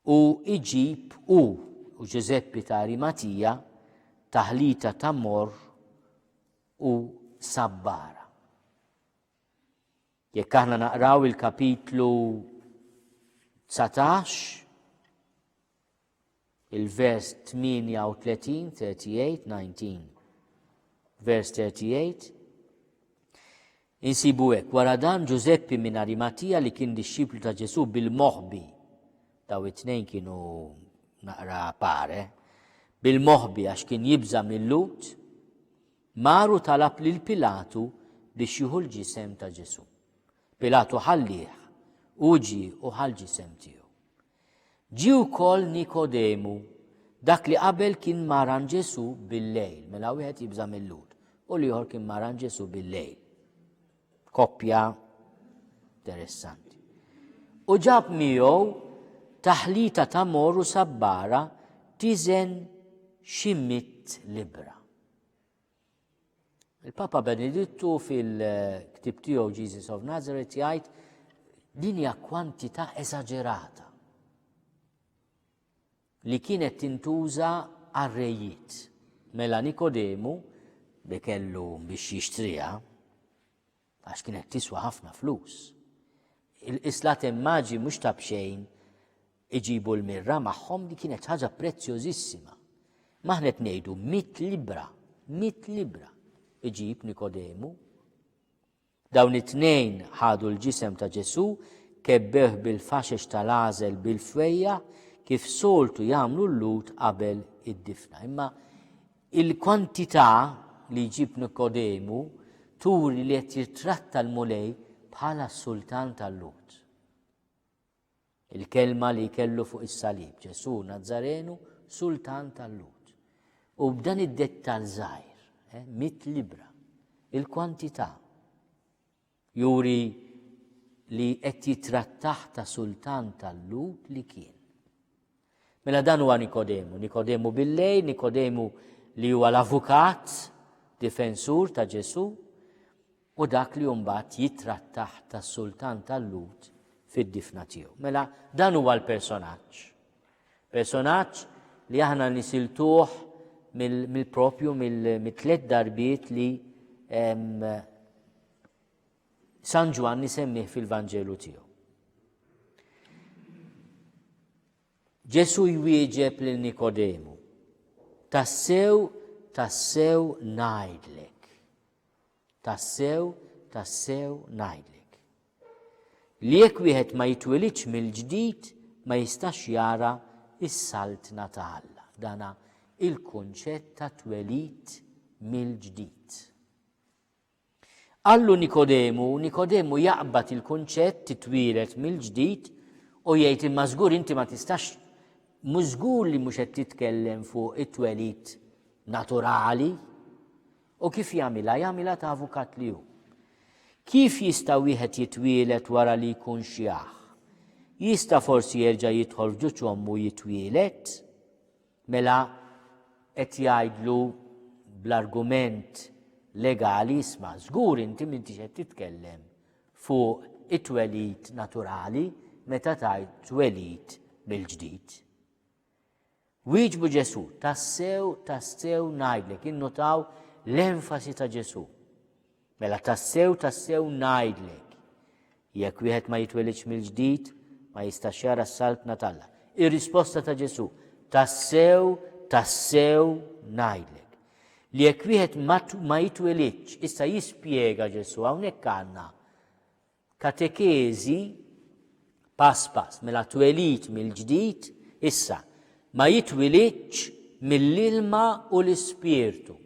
u iġib hu u Ġużeppi ta' Arimatija taħlita ta' morr u sabbara. Jekk aħna naqraw il-kapitlu 19 Il-vers 38, 38, 19. Vers 38. Insibu hekk, wara dan Ġużeppi minn Arimatija li kien dixxiplu ta' Ġesu bil-moħbi. Daw it-tnejn kienu naqra pare. Bil-moħbi għax kien jibża mill-lut, maru talab lil Pilatu biex jieħu l-ġisem ta' Ġesu. Pilatu ħallih, uġi u ħal ġisem tiegħu. Ġie wkoll Nikodemu, dak li qabel kien ma' ran Ġesù bil-lejl, mela wieħed jibża' mill-Lhud, u l-ieħor kien ma' ran Ġesù bil-lejl. Koppja interessanti. U ġab miegħu taħlita ta' mor u sabbara tiżen xi mitt libra. Il-Papa Benedittu fil-ktib tiegħu Jesus of Nazareth jgħid din hija kwantità eżaġerata li kienet tintuża għar-rejiet. Mela Nikodemu li kellu biex jixtriha għax kienet tiswa ħafna flus. Il-qislat immaġi mhux ta' bxejn iġibu l-mirra magħhom li kienet ħaġa prezzjożissima. Maħnet ngħidu mit libra, mit libra iġib Nikodemu. Dawn it-tnejn ħadu l-ġisem ta' Ġesu kebbeħ bil-faxex tal-għażel bil-fejja kif soltu jagħmlu l-lut qabel id-difna. Imma Il-kwantità li jġib Nikodemu turi li qed jittratta l-Mulej bħala s-Sultan tal-Lhud. Il-kelma li kellu fuq is-salib, Ġesù Nazzarenu, Sultan tal-Lhud. U b'dan id-dettal żgħir, eh, mit libra, il-kwantità Juri li qed jittrattah ta' sultan tal-Lhud li kien. Mela dan huwa Nikodemu, Nikodemu bil-lejl, Nikodemu li huwa l-avukat, difensur ta' Ġesu, u dak li mbagħad jittrattah ta' sultan tal-Lhud fid-difna tiegħu. Mela dan huwa l-personaġġ. Personaġġ li aħna nisiltuh mill-proprju mit-tliet darbiet li San Ġwann isemmih fil-Vanġelu tiegħu. Ġesu jwieġeb lil Nikodemu, tassew, tassew najdlek. Tassew, tassew ngħidlek, li jekk wieħed ma jitwilidx mill-ġdid ma jistax jara s-Saltna ta' Alla. Dan hu l-kunċett ta' twelid mill-ġdid. Qallu Nikodemu, Nikodemu jaqbad il-kunċett titwielet mill-ġdid u jgħid imma żgur inti ma tistax mużgur li mhux qed titkellem fuq it-twelid naturali, U kif jagħmilha? Jagħmilha ta' avukat li hu. Kif jista' wieħed jitwieled wara li jkun xjaħ? Jista' forsi jerġa' jidħol f'ġuġ ommu jitwieled? Mela qed jgħidlu bl-argument legali isma' żgur inti m'intix qed titkellem fuq it-twelid naturali meta tgħid twelid mill-ġdid. Wieġbu Ġesù, Tassew, tassew ngħidlek, innutaw l-enfasi ta' Ġesù. Mela tassew, tassew ngħidlek. Jekk wieħed ma jitwelidx mill-ġdid, ma jistax jara s-saltna talla. Ir-risposta ta' Ġesù, tassew, tassew ngħidlek. Li jekk wieħed ma jitwelidx, issa jispjega Ġesù hawnhekk għandna Katekeżi pass pass, mela twelid mill-ġdid, issa, ma jitwilidx mill-ilma u l-Ispirtu.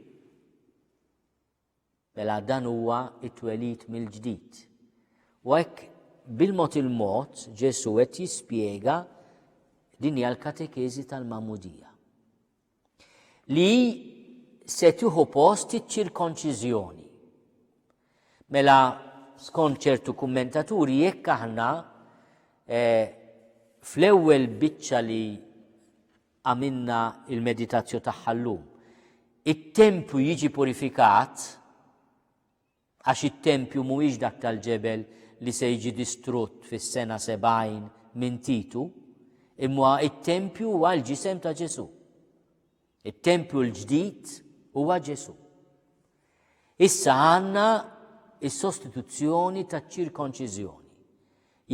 Mela dan huwa it-twelid mill-ġdid. U hekk bil-mod il-mod Ġesu qed jispjega din hija l-katekeżi tal-mamudija. li se tieħu post iċ-ċirkonċiżjoni. Mela, skont ċertu kummentaturi, jekk aħna eh, fl-ewwel biċċa li għamilna il-meditazzju tagħha llum, it-tempju jiġi purifikat, Għax it-tempju mhuwiex dak tal-ġebel li se jiġi distrutt fis-sena sebgħin minn Titu, imma it-tempju huwa l-ġisem ta' Ġesù. It-tempju l-ġdid huwa Ġesù. Issa għandna is-sostituzzjoni taċ-ċirkonċiżjoni.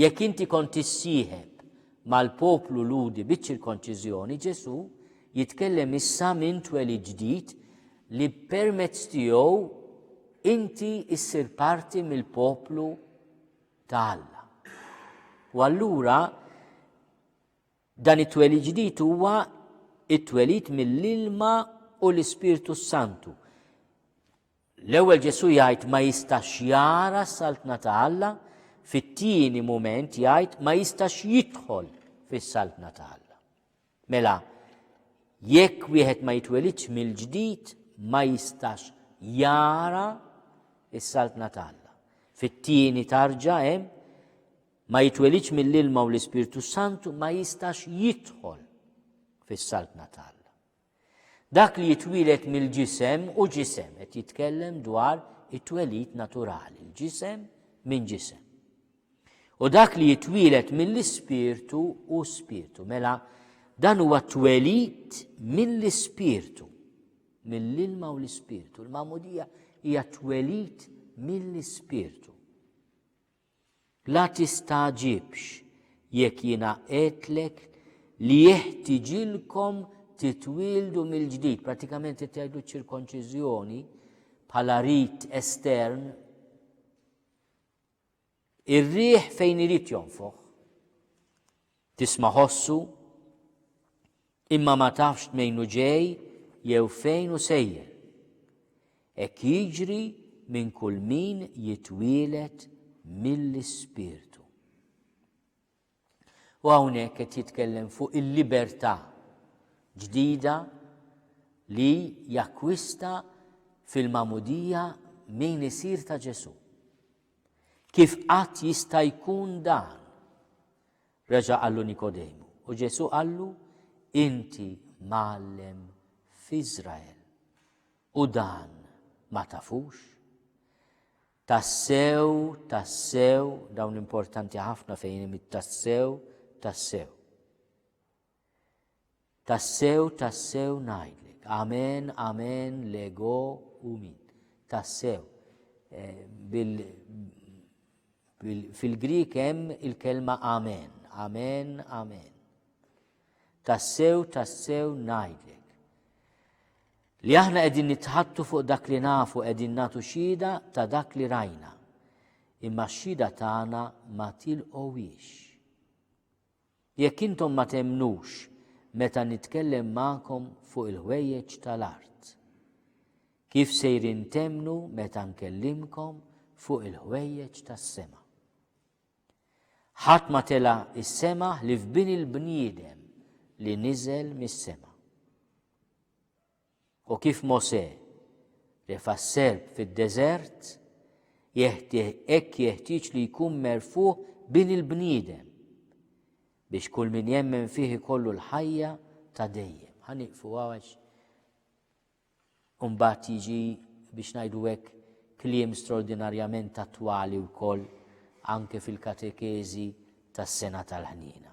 Jekk inti kont tissieħeb mal-poplu Lhudi biċ-ċirkonċiżjoni, Ġesù jitkellem issa minn twelid ġdid li permezz tiegħu inti issir parti mill-poplu ta' Alla. U allura dan it-twelid ġdid huwa it-twelid mill-ilma u l-Ispirtu Santu. L-ewwel Ġesù jgħid ma jistax jara s-Saltna ta' Alla, fit-tieni mument jgħid ma jistax jidħol fis-Saltna ta' Alla. Mela, jekk wieħed ma jitwelidx mill-ġdid ma jistax jara is-Saltna ta' Alla. Fit-tieni tarġa hemm ma jitwelidx mill-ilma u l-Ispirtu Santu ma jistax jidħol fis-Saltna ta' Alla. Dak li jitwieled mill-ġisem hu ġisem, qed jitkellem dwar it-twelid naturali, l-ġisem minn ġisem. U dak li jitwieled mill-ispirtu hu spirtu, mela dan huwa twelid mill-ispirtu, mill-ilma u l-ispirtu. Il-mamudija hija twelid mill-ispirtu. La tistagħġibx jekk jiena għedtlek li jeħtiġilkom titwieldu mill-ġdid, pratikament qed jgħidu ċ-ċirkonċiżjoni bħala rit estern. Ir-riħ fejn irid jonfoħ. Tisma' ħossu, imma ma tafx tmejn hu ġej jew fejn hu sejjer. Hekk jiġri minn kull min jitwieled mill-Ispirtu. U hawnhekk qed jitkellem fuq il-libertà ġdida li jakkwista fil-mamudija min isir ta' Ġesu. Kif qatt jista' jkun dan? Reġa' qallu Nikodemu, u Ġesù qallu, Inti mgħallem f'Iżrael u dan ma tafux? Tassew, tassew, dawn importanti ħafna fejn hemm it-tassew, tassew. Tassew, tassew ngħidlek, amen, amen, lego u min. Tassew. Eh, bil, bil, Fil-Grik hemm il-kelma amen, amen, amen. Tassew, tassew ngħidlek. Li aħna qegħdin nitħattu fuq dak li nafu qegħdin nagħtu xhieda ta' dak li rajna. Imma x-xhieda tagħna ma tilqowiex. Jekk intom ma temmnux meta nitkellem magħkom fuq il-ħwejjeġ ta' l-art, kif sejrin temmnu meta nkellimkom fuq il-ħwejjeġ tas-sema? Ħadd ma tela' is-sema ħlief Bin il-bniedem li niżel mis-sema. U kif Mosè ref għas-serp fid-deżert, jeħtieħ hekk jeħtieġ li jkun merfugħ Bin il-bniedem biex kull min jemmen fih ikollu l-ħajja ta' dejjem. Ħaniqfu għax Umbat jiġi biex najdu hekk kliem straordinarjament attwali wkoll anke fil-katekezi tas-sena tal-ħniena.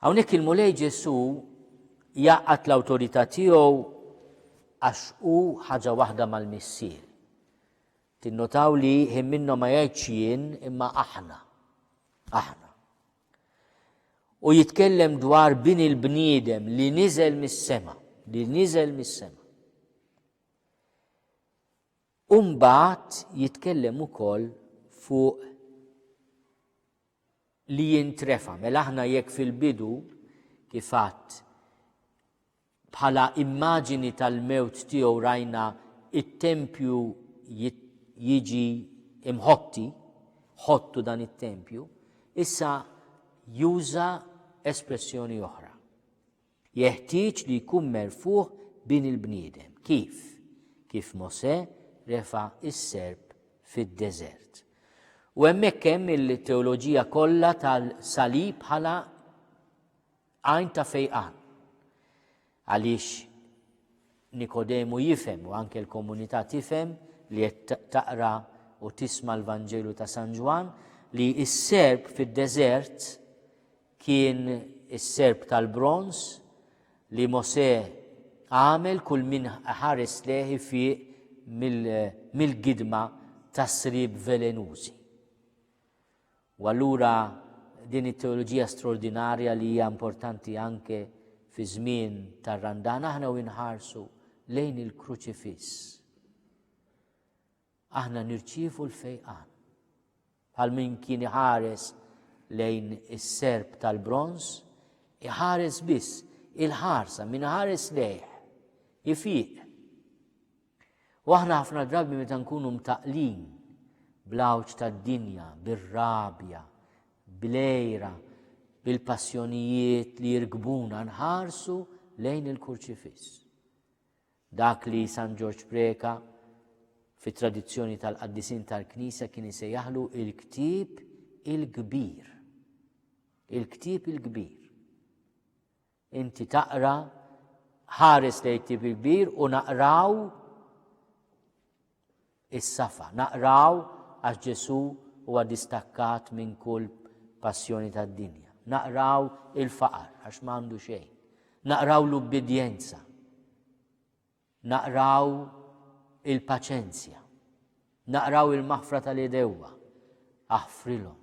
Hawnhekk il-Mulej Ġesù jgħaqqad l-awtorità tiegħu għax hu ħaġa waħda mal-Missier. Tinnotaw li ħin minnhom ma jgħidx jien imma aħna. Aħna. U jitkellem dwar bin il-bniedem li niżel mis-sema, li niżel mis-sema. U mbagħad jitkellem ukoll fuq li jintrefa'. Mela aħna jekk fil-bidu kif għadt bħala immaġini tal-mewt tiegħu rajna it-tempju jiġi imħotti, ħottu dan it-tempju, issa juża espressjoni oħra. Jeħtieġ li jkun merfugħ Bin il-bniedem. Kif? Kif Mosè refa' s-serp fid-deżert. U hemmhekk hemm il-teoloġija kollha tal-salib bħala għajn ta' fejqan. Għaliex Nikodemu jifhem u anke l-komunità tifhem li qed taqra u tisma' l-Vanġelu ta' San Ġwan li s-serb fid-deżert Kien is-serp tal-bronż li Mosè għamel kull min iħares lejh ifieq mill-gidma tas-sriep velenużi. U allura din it-teoloġija straordinarja li hija importanti anke fi żmien tar-Randan aħna u nħarsu lejn il-Kruċifiss. Aħna nirċievu l-fejqan. Bħal min kien iħares lejn is-serp tal-bronż, iħares biss il-ħarsa minn ħares lejh, ifiq. U aħna ħafna drabi meta nkunu mtaqlin bl-għawġ tad-dinja, bir-rabja, bil-ejra, bil-passjonijiet li jirkbuna nħarsu lejn il-kurċifiss. Dak li San Ġorġ Preca fit-tradizzjoni tal-qaddisin tal-Knisja kien isejjaħlu il-ktieb il-kbir. Il-ktieb il-kbir. Inti taqra ħares lejn ktieb il-kbir u naqraw is-safa. Naqraw għax Ġesù huwa distakkat minn kull passjoni tad-dinja. Naqraw il-faqar għax m'għandu xejn. Naqraw l-ubbidjenza. Naqraw il-paċenzja. Naqraw il-maħfra tal-idewwa. Aħfrilhom.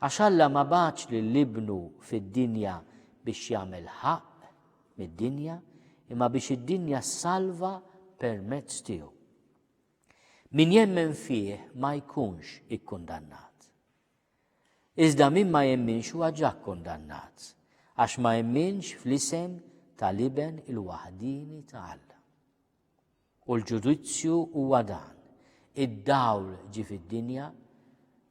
Għax Alla ma bagħatx lil Ibnu fid-dinja biex jagħmel ħaqq mid-dinja, imma biex id-dinja ssalva permezz tiegħu. Min jemmen fih ma jkunx ikkundannat. Iżda min ma jemminx huwa ġa kkundannat, għax ma jemminx fl-isem tal-Iben il-waħdini ta' Alla. U l-ġudizzju huwa dan, id-dawl ġie fid-dinja,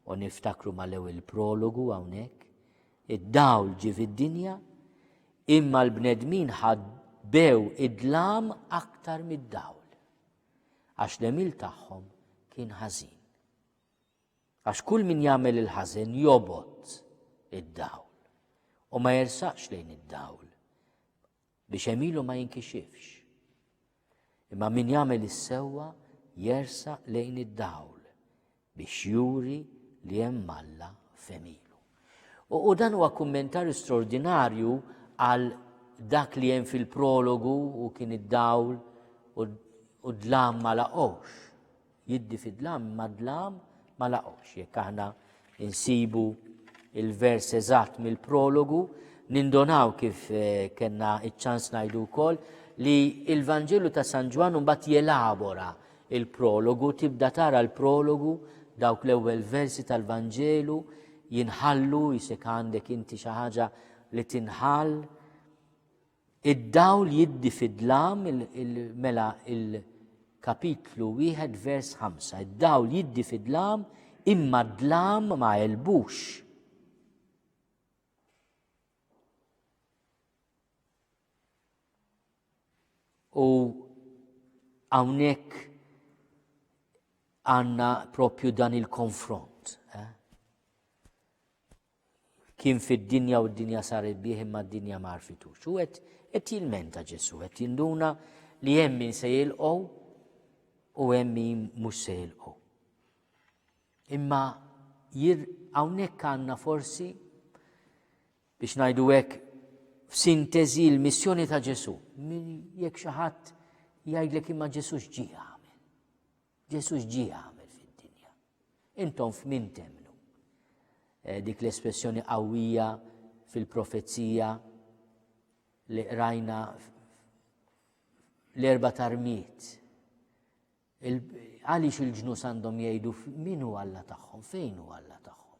u niftakru mal-ewwel prologu hawnhekk, id-dawl ġie fid-dinja, imma l-bnedmin ħadbew id-dlam aktar mid-dawl, għax l-emil tagħhom kien ħażin. Għax kull min jagħmel il-ħażen jobot id-dawl u ma jersaqx lejn id-dawl biex għemilu ma jinkixifx. Imma min jagħmel is-sewwa jersa lejn id-dawl biex juri li hemm Alla femilu. U, u dan huwa kummentarju straordinarju għal dak li hemm fil-prologu u kien id-dawl u d-dlam ma laqgħux. Jiddi fid-dlam imma d-dlam ma laqgħux. Jekk aħna insibu il-vers eżatt mill-prologu, nindonaw kif eh, kena iċ-ċans ngħidu wkoll li il-Vanġelu ta' San Ġwann mbagħad jelabora il-prologu, tibda tara l-prologu dawk l-ewwel versi tal-Vanġelu jinħallu jisek għandek inti xi ħaġa li tinħall Id-dawl jiddi fid-dlam, mela il-kapitlu wieħed vers ħamsa, id-dawl jiddi fid-dlam imma d-dlam ma elbux. U hawnhekk għandna propju dan il-konfront. Eh? Kien fid-dinja u d-dinja saret bih imma d-dinja ma għarfitux. U qed qed jilmenta Ġesù, qed jinduna li hemm min se jilqgħu u hemm min mhux se jilqgħu. Imma jir hawnhekk għandna forsi biex ngħidu hekk f'sinteżi l-missjoni ta' Ġesù. Jekk xi ħadd jgħidlek imma Ġesù x'ġie għamel. Ġesu x'ġie jagħmel fid-dinja? Intom f'min temmnu? Eh, dik l-espressjoni qawwija fil-profezija li qrajna l-erba tarmiet. Għaliex il-ġnus għandhom jgħidu min hu Alla tagħhom, fejn hu Alla tagħhom.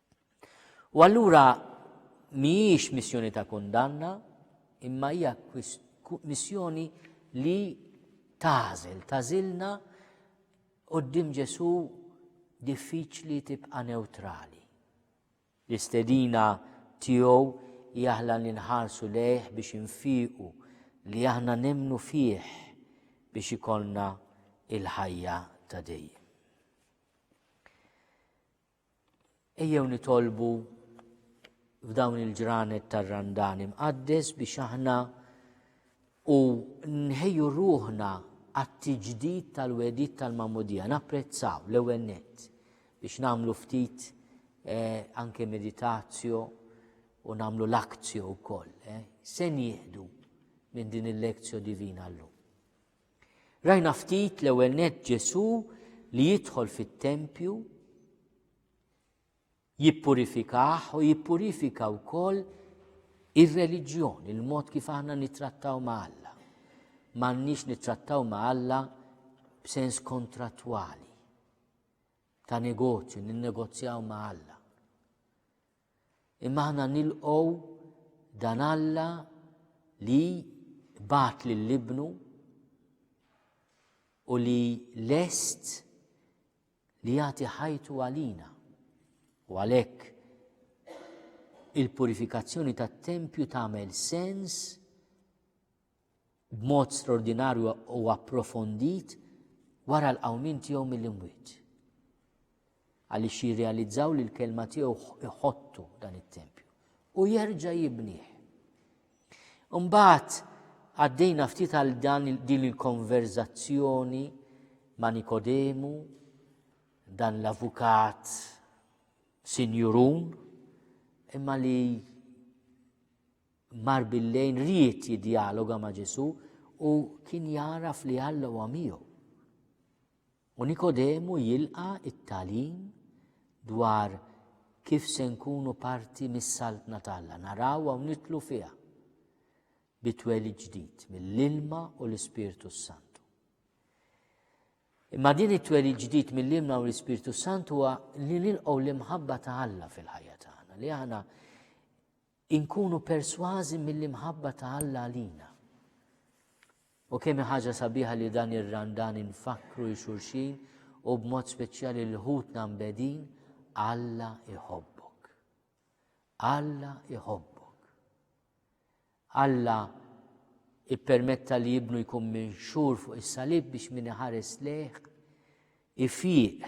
U allura mhijiex missjoni ta' kundanna, imma hija missjoni li tażel, tażilna qoddim Ġesu diffiċli tibqa' neutrali. L-istedina tiegħu jaħla li nħarsu lejh biex infiqu li aħna nemnu fih biex ikollna il-ħajja ta' dejjem. Ejjew nitolbu f'dawn il-ġranet tar-Randan Imqaddes biex aħna u nħejju ruħna għat-tiġdid tal-wegħdiet tal-Magħmudija, napprezzaw l-ewwel nett biex nagħmlu ftit eh, anke meditazjo u nagħmlu l-akzjo wkoll. Eh. Se nieħdu minn din il-lekzjo divina llum. Rajna ftit l-ewwel nett Ġesù li jidħol fit-tempju, jippurifikah u jippurifika wkoll ir-reliġjon, il-mod kif aħna nittrattaw ma' Alla. M'għandniex nittrattaw ma' Alla b'sens kontrattwali ta' negozju, ninnegozjaw ma' Alla. Imma aħna nilqgħu dan Alla li bat lil ibnu u li lest li jagħti ħajtu għalina. U għalhekk il-purifikazzjoni tat-tempju tagħmel sens b'mod straordinarju u approfondit wara l-qawmien tiegħu mill-imwiet. Għaliex jirrealizzaw li l-kelma tiegħu iħottu dan it-tempju u jerġa' jibnieh. Imbagħad għaddejna ftit għal dan din il-konverzazzjoni ma' Nikodemu, dan l-avukat sinjurun, imma li mar bil-lejl ried jiddjaloga ma' Ġesù u kien jagħraf li Alla huwa miegħu. U Nikodemu jilqa' it-tagħlim dwar kif se nkunu parti mis-saltna talla, naraw u nitlu fiha bitweli ġdid mill-ilma u l-Ispirtu Santu. Imma din it-tweli ġdid mill-ilma u l-Ispirtu Santu huwa li nilqgħu l-imħabba ta' Alla fil-ħajja tagħna, li aħna Inkunu persważi mill-imħabba ta' Alla għalina. U kemm ħaġa sabiħa li dan ir-Randan infakkru il xulxin u b'mod speċjali l ħutna mbedin Alla iħobbok. Alla iħobbok. Alla ippermetta li jibnu jkun minn xur fuq is-salib biex min iħares leħ ifiq